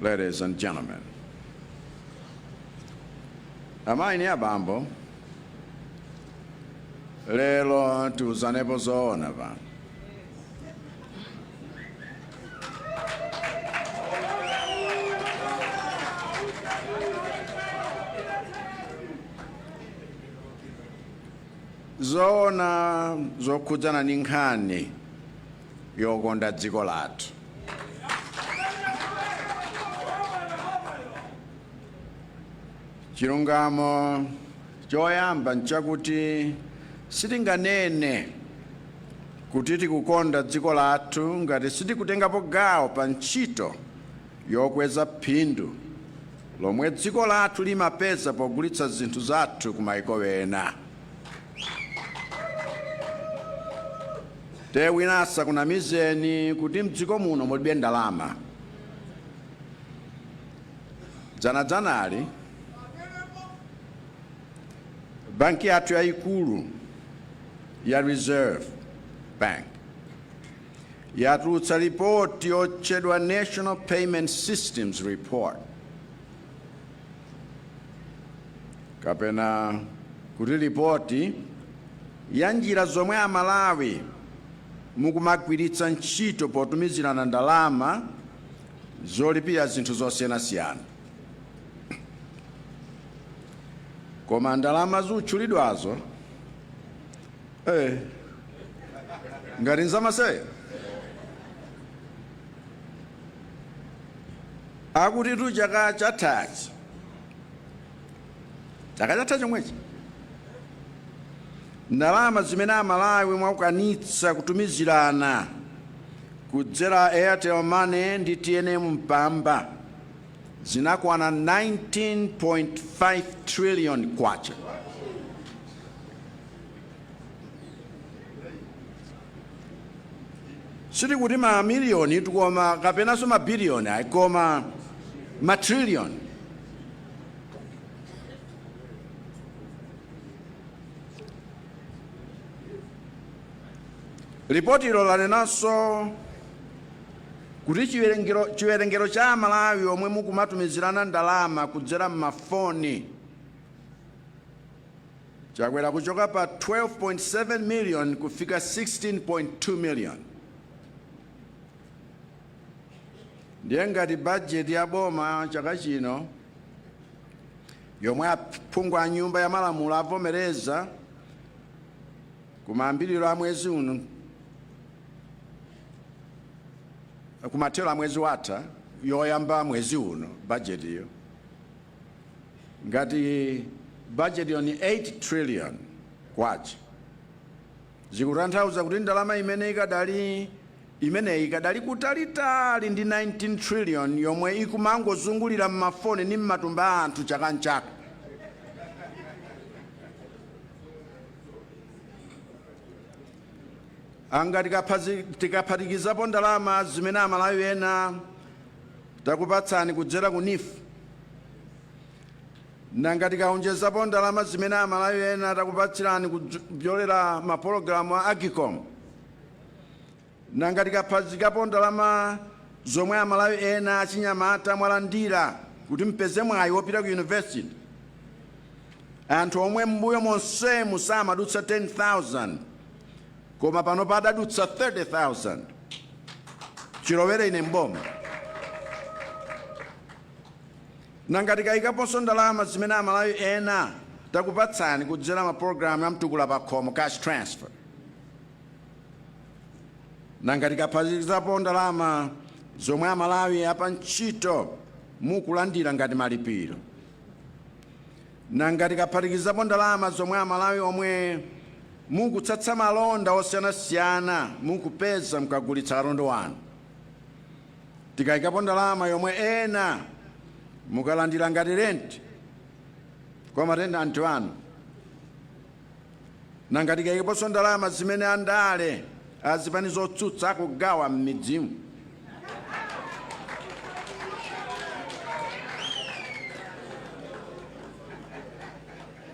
Ladies and gentlemen, amayi ni abambo, lelo tiuzanepo zoona pano. zoona zokhudzana ni nkhani yokonda dziko lathu. Chilungamo choyamba n'chakuti sitinganene kuti tikukonda dziko lathu ngati sitikutengapo gawo pa ntchito yokweza phindu lomwe dziko lathu limapeza pogulitsa zinthu zathu ku mayiko ena. te wina asakunamizeni kuti mdziko muno mulibe ndalama dzanadzanali banki yathu yayikulu ya reserve bank yatulutsa ripoti yotchedwa national payment systems report kapena kuti ripoti ya njira zomwe Amalawi mukumagwiritsa ntchito potumizirana ndalama zolipira zinthu zosiyanasiyana. Koma ndalama zutchulidwazo eh, ngati nzamasewera Akutitu chaka chatha chomwechi, ndalama zimene Amalawi mwakwanitsa kutumizirana kudzera Airtel Money ndi tnm Mpamba zinakwana K19.5 trillion. sitikuti ma miliyoni tukoma kapenanso ma biliyoni ayi koma ma triliyoni lipotilo lanenanso kuti chiwerengero cha amalawi omwe mukumatumizirana ndalama kudzera m'mafoni Chakwera kuchoka pa 12.7 million kufika 16.2 million ndiye ngati bajeti ya boma chaka chino yomwe aphungu a nyumba ya malamulo avomereza kumayambiriro a mwezi uno kumathero a mwezi watha yoyamba mwezi uno bajetiyo Ngati budget yo ndi 8 trillion kwacha zikutanthauza kuti ndalama imene ikadali imeneyi ikadali kutalitali ndi 19 trillion yomwe ikumangozungulira mmafoni ndi mmatumba a anthu chaka nchaka. Nanga tikaphatikizapo ndalama zimene amalawi ena takupatsani kudzera ku neef? Nanga tikaonjezapo ndalama zimene amalawi ena takupatsirani kudzera mapologalamu a Agcom? Nanga tikaphatikizapo ndalama zomwe amalawi ena achinyamata mwalandira kuti mupeze mwayi wopita ku university? Anthu omwe mmbuyo monsemu samadutsa 10,000 Koma pano padadutsa 30,000 chilowere ine m'boma. Nanga tikayikaponso ndalama zimene Amalawi ena takupatsani kudzera mapologalamu a Mtukula Pakhomo, cash transfer, nanga tikaphatikizapo ndalama zomwe Amalawi apantchito mukulandira ngati malipiro, Nanga tikaphatikizapo ndalama zomwe amalawi omwe mukutsatsa malonda osiyanasiyana mukupeza mukagulitsa katundu wanu, tikaikapo ndalama yomwe ena mukulandila ngati rent kwa ma tenant anu, Nanga tikaikaponso ndalama zimene andale a zipani zotsutsa akugawa m'midzimu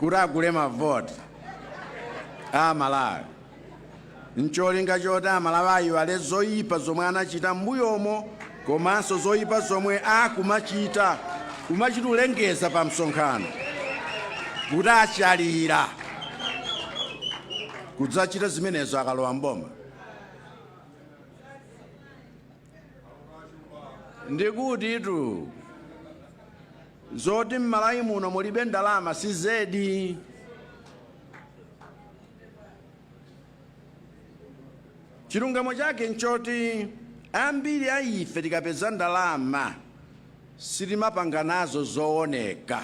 kuti agule mavoti a Amalawi. n'cholinga choti Amalawi aiwale zoipa zomwe anachita m'mbuyomo komanso zoipa zomwe akumachita, kumachita kulengeza pamsonkhano kuti achalira kudzachita zimenezo akalowa m'boma. ndikutitu zoti mmalawi muno mulibe ndalama si zedi chilungamo chake nchoti ambiri a ife tikapeza ndalama sitimapanga nazo zooneka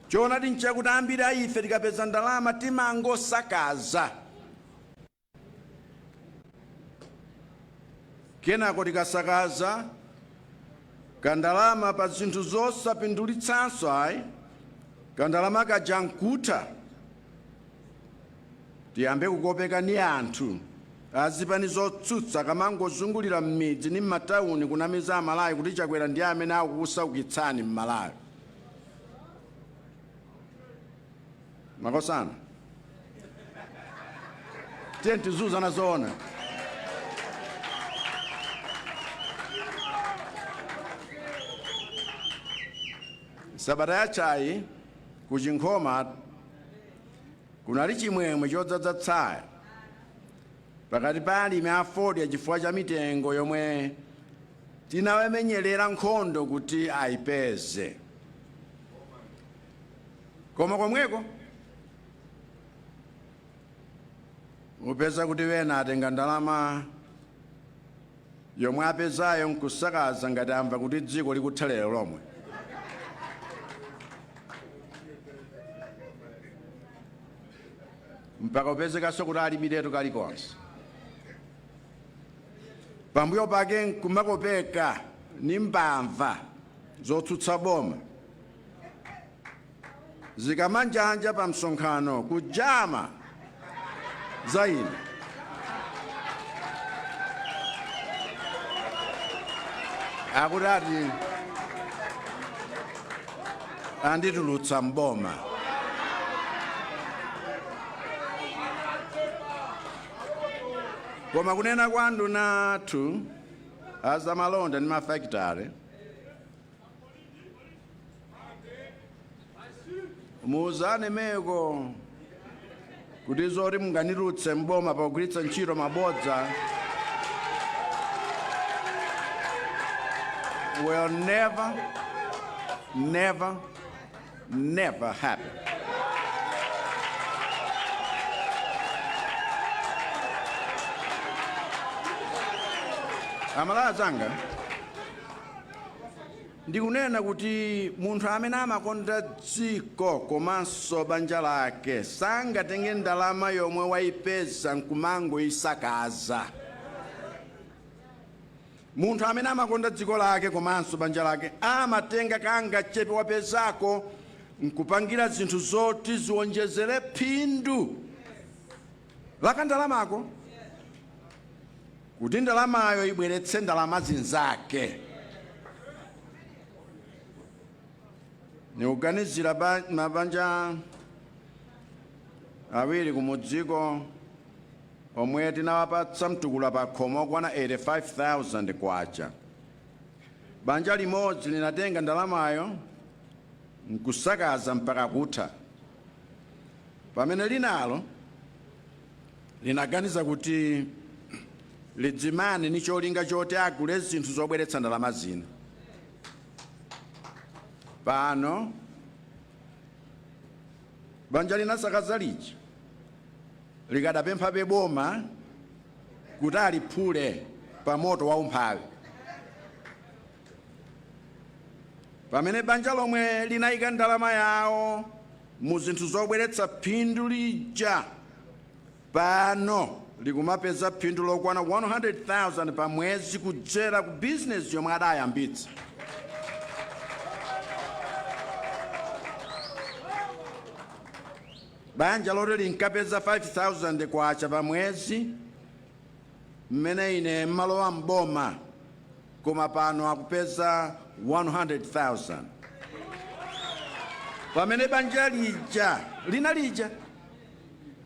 Choonadi n'chakuti ambiri a ife tikapeza ndalama timangosakaza, kenako tikasakaza kandalama pa zinthu zosapindulitsanso ayi, kandalama kaja n'kutha, tiyambe kukopeka ni anthu azipani zotsutsa akamangozungulira m'midzi ni m'matauni kunamiza Amalawi kuti Chakwera ndi amene akukusaukitsani m'Malawi. makosana tiye tiziuzana zoona sabata yathayi ku chinkhoma kunali chimwemwe chodzadza tsaya pakati pa alimi a fodya chifukwa cha mitengo yomwe Tinawamenyelera nkhondo kuti ayipeze. Koma komweko upeza kuti wena atenga ndalama yomwe apezayo nkusakaza ngati amva kuti dziko likutha lero lomwe. Mpaka kupezekanso kuti alibiretu kalikonse. pambuyo pake nkumakopeka ni mbava zotsutsa boma zikamanjanja pa msonkhano kujama za ine akuti ati anditulutsa mboma Koma kunena kwa anduna athu azamalonda ndi mafakitale, muuzane meko kuti zoti munganitulutse m'boma pakugwiritsa ntchito mabodza will never, never, never happen. aMalawi anzanga ndikunena kuti munthu amene amakonda dziko komanso banja lake sangatenge ndalama yomwe wayipeza nkumangoyisakaza Munthu amene amakonda dziko lake komanso banja lake amatenga kangachepe wapezako n'kupangira zinthu zoti ziwonjezere phindu la kandalamako kuti ndalamayo ibweretse ndalama zinzake. Nikuganizira mabanja awiri kumudziko. omwe tinawapatsa mtukula pakhomo okwana 85,000 kwacha. Banja limodzi linatenga ndalamayo n'kusakaza mpaka kutha, pamene linalo linaganiza kuti lidzimane n'cholinga choti agule zinthu zobweretsa ndalama zina. Pano. Banja linasakaza lija likadapemphabe boma kuti aliphule pamoto wa umphawi pamene banja lomwe linaika ndalama yawo mu zinthu zobweretsa phindu lija pano likumapeza phindu lokwana 100,000 pa mwezi kudzera ku bizinesi yomwe adayambitsa. Banja loti linkapeza 5,000 kwacha pa mwezi mmene ine mmalowa m'boma koma pano akupeza 100,000 pamene banja lija lina lija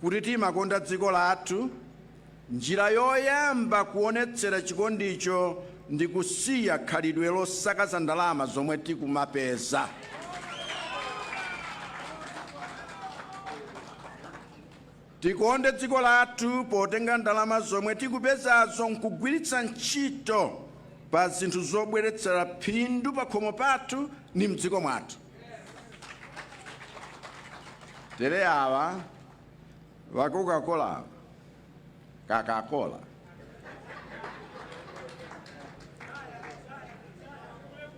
kuti timakonda dziko lathu? Njira yoyamba kuonetsera chikondicho ndi kusiya khalidwe losakaza ndalama zomwe tikumapeza. Tikonde dziko lathu potenga ndalama zomwe tikupezazo nkugwiritsa ntchito pa zinthu zobweretsera phindu pakhomo pathu ndi mdziko mwathu. tere awa va coca-cola coca-cola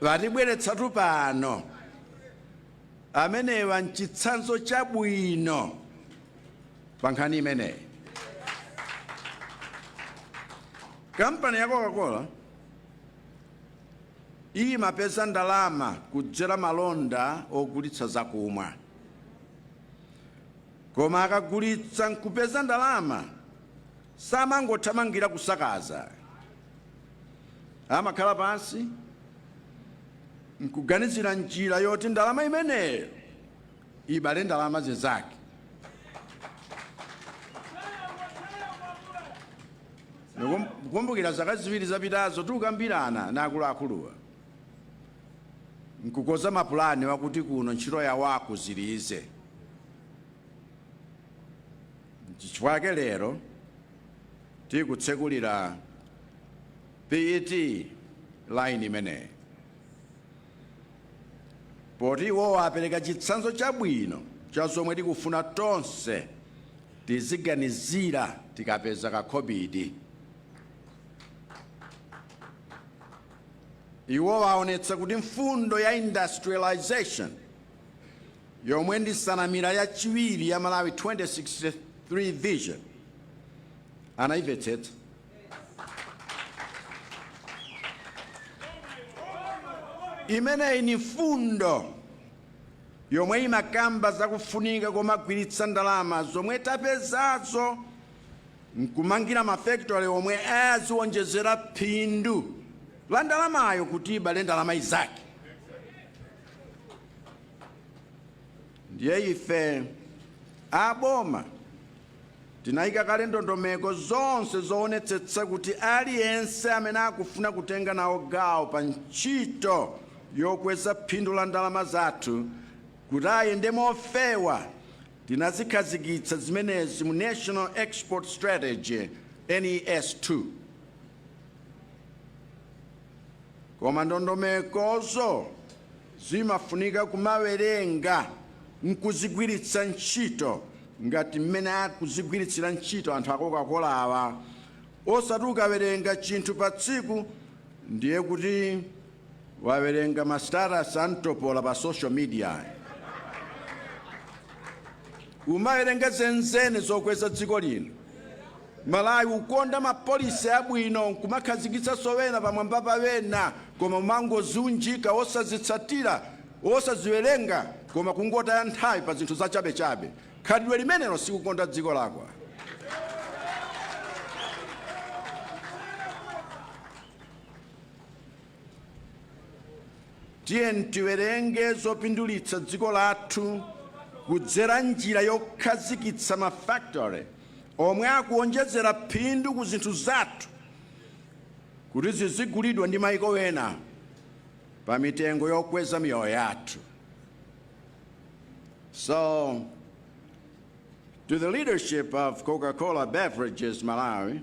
vatibweretsatu pano amenewa nchitsanzo chabwino pa nkhani imeneyi kampani ya coca-cola Imapeza ndalama kudzera malonda ogulitsa zakumwa. Koma akagulitsa n'kupeza ndalama, samangothamangira kusakaza. Amakhala pansi n'kuganizira njira yoti ndalama imeneyo ibale ndalama zinzake. Nkumbukira zaka ziwiri zapitazo tikukambirana na akuluakuluwa nkukoza mapulani wakuti kuno ntchito yawo akuzilize n'chifukwa chake lero tikutsekulira PET line imeneyi poti iwowa apereka chitsanzo chabwino cha zomwe tikufuna tonse Tiziganizira tikapeza kakhobidi. Iwo aonetsa kuti mfundo ya industrialisation yomwe ndi nsanamira yachiwiri ya Malawi 2063 Vision anaimvetsetsa. Imeneyi ni mfundo yomwe imakamba za kufunika komagwiritsa ndalama zomwe tapezazo n'kumangira mafekitori omwe aziwonjezera phindu la ndalamayo kuti ibale ndalama inzake. Ndiye ife a boma Tinaika kale ndondomeko zonse zoonetsetsa kuti aliyense amene akufuna kutenga nawo gawo pa ntchito yokweza phindu la ndalama zathu kuti ayende mofewa, tinazikhazikitsa zimenezi mu National Export Strategy, NES2. Koma ndondomekozo. Zimafunika kumawerenga n'kuzigwiritsa ntchito ngati mmene akuzigwiritsira ntchito anthu a Coca-Colawa. Osati ukawerenga chinthu patsiku ndiye kuti wawerenga ma status a mtopola pa social media ayi. Kumawerenga zenizeni zokweza dziko lino. Malawi ukonda ma policy abwino nkumakhazikitsaso wena pamwamba pa wena koma kumangoziunjika osazitsatira osaziwerenga koma kungotaya nthawi pa zinthu zachabechabe khalidwe limenelo sikukonda dziko lako. Tiwerenge zopindulitsa dziko lathu kudzera njira yokhazikitsa ma factory omwe akuonjezera phindu ku zinthu zathu kuti zizigulidwa ndi maiko ena pa mitengo yokweza miyoyo yathu. So, to the leadership of Coca-Cola Beverages Malawi,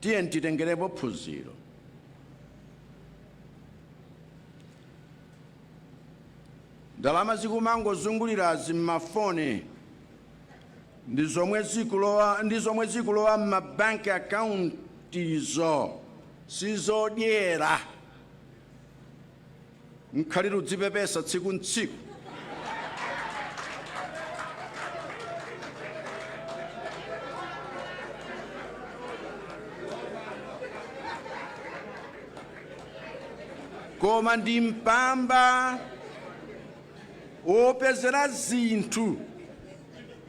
Tiyeni titengerepo phunziro. Ndalama zikumangozungulirazi m'mafoni ndi zomwe zikulowa ndi zomwe zikulowa m'ma bank akauntizo sizodyera. Nkhaliro zodzipepesa tsiku n'tsiku. Koma ndi mpamba wopezera zinthu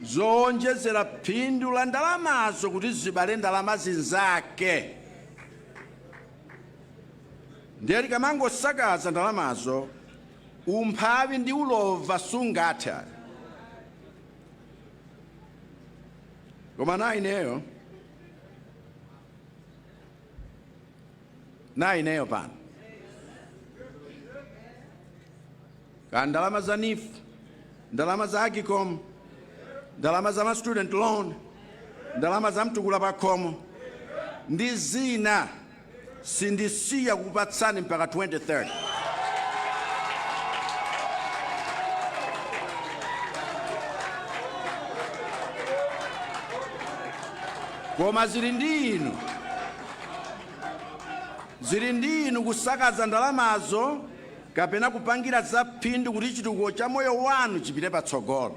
zowonjezera phindu la ndalamazo kuti zibale ndalama zinzake. Ndiye tikamangosakaza ndalamazo, umphawi ndi ulova sungathe ayi. Koma naineyo, naineyo pano ka ndalama za NEEF, ndalama za Agcom, ndalama za ma student loan, ndalama za mtukula pakhomo ndi zina. Sindisiya kukupatsani mpaka 2030. Koma zili ndi inu. Zili ndi inu kusakaza ndalamazo kapena kupangira za phindu kuti chitukuko cha moyo wanu chipite patsogolo.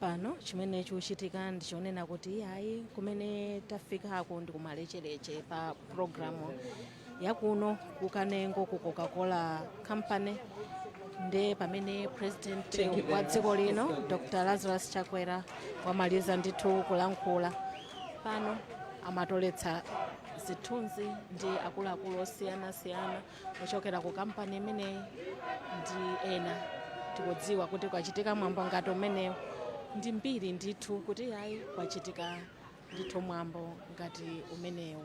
pano chimene chikuchitika ndichonena kuti ayi kumene tafikako ndi kumalechereche pa pulogalamu yakuno kukanengo ku coca-cola company nde pamene president wa dziko lino dr lazarus chakwera wamaliza ndithu kulankhula pano amatoletsa zithunzi ndi akuluakulu osiyanasiyana ochokera ku kampani imeneyi ndi ena tikudziwa kuti kwachitika mwambo ngati umenewu ndi mbiri ndithu kuti ayi kwachitika ndithu mwambo ngati umenewu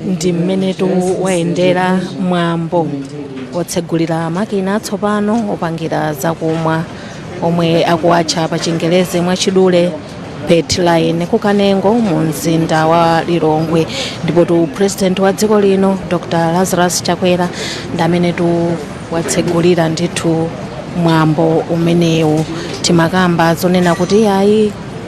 ndi mmenetu wayendera mwambo otsegulira makina atsopano opangira zakumwa omwe akuwatcha pa chingerezi mwachidule PET line kukanengo mu mzinda wa lilongwe ndipo tu president wa dziko lino dr lazarus chakwera ndi amene tu watsegulira ndithu mwambo umenewu timakamba zonena kuti ayi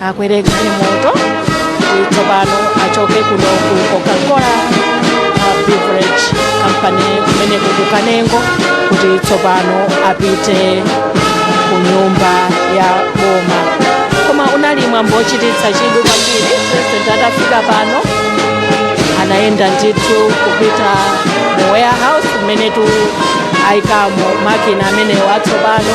akwere galimoto kuti tsopano achoke kuno ku coca-cola uh, beverage company kumene kuno ku kanengo kuti tsopano apite ku nyumba ya boma koma unali mwambo wochititsa chidwi kwambiri president atafika pano anayenda ndithu kupita mu warehouse kumenetu ayikamo makina amenewo atsopano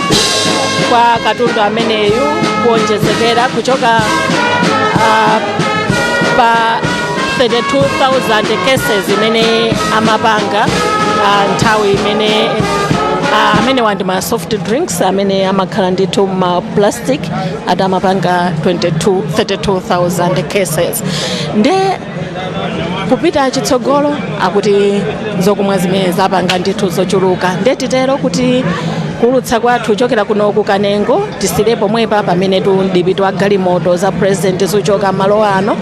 kwa katundu ameneyu kuonjezekera kuchoka ah, pa 32,000 cases imene amapanga ah, nthawi imene ah, amenewa ndi ma soft drinks amene amakhala ndithu ma plastic ati amapanga 22 32,000 cases nde kupita chitsogolo akuti zakumwa zimenezi apanga ndithu zochuluka nde titero kuti kuulutsa kwathu kuchokera kuno ku kanengo tisiyire pomwepa pamene tu mdipiti wa galimoto za president ukuchoka malo ano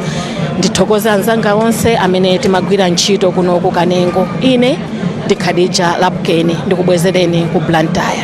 ndithokoza anzanga onse amene timagwira ntchito kuno ku kanengo ine ndi khadija lapukeni ndikubwezereni ku blantyre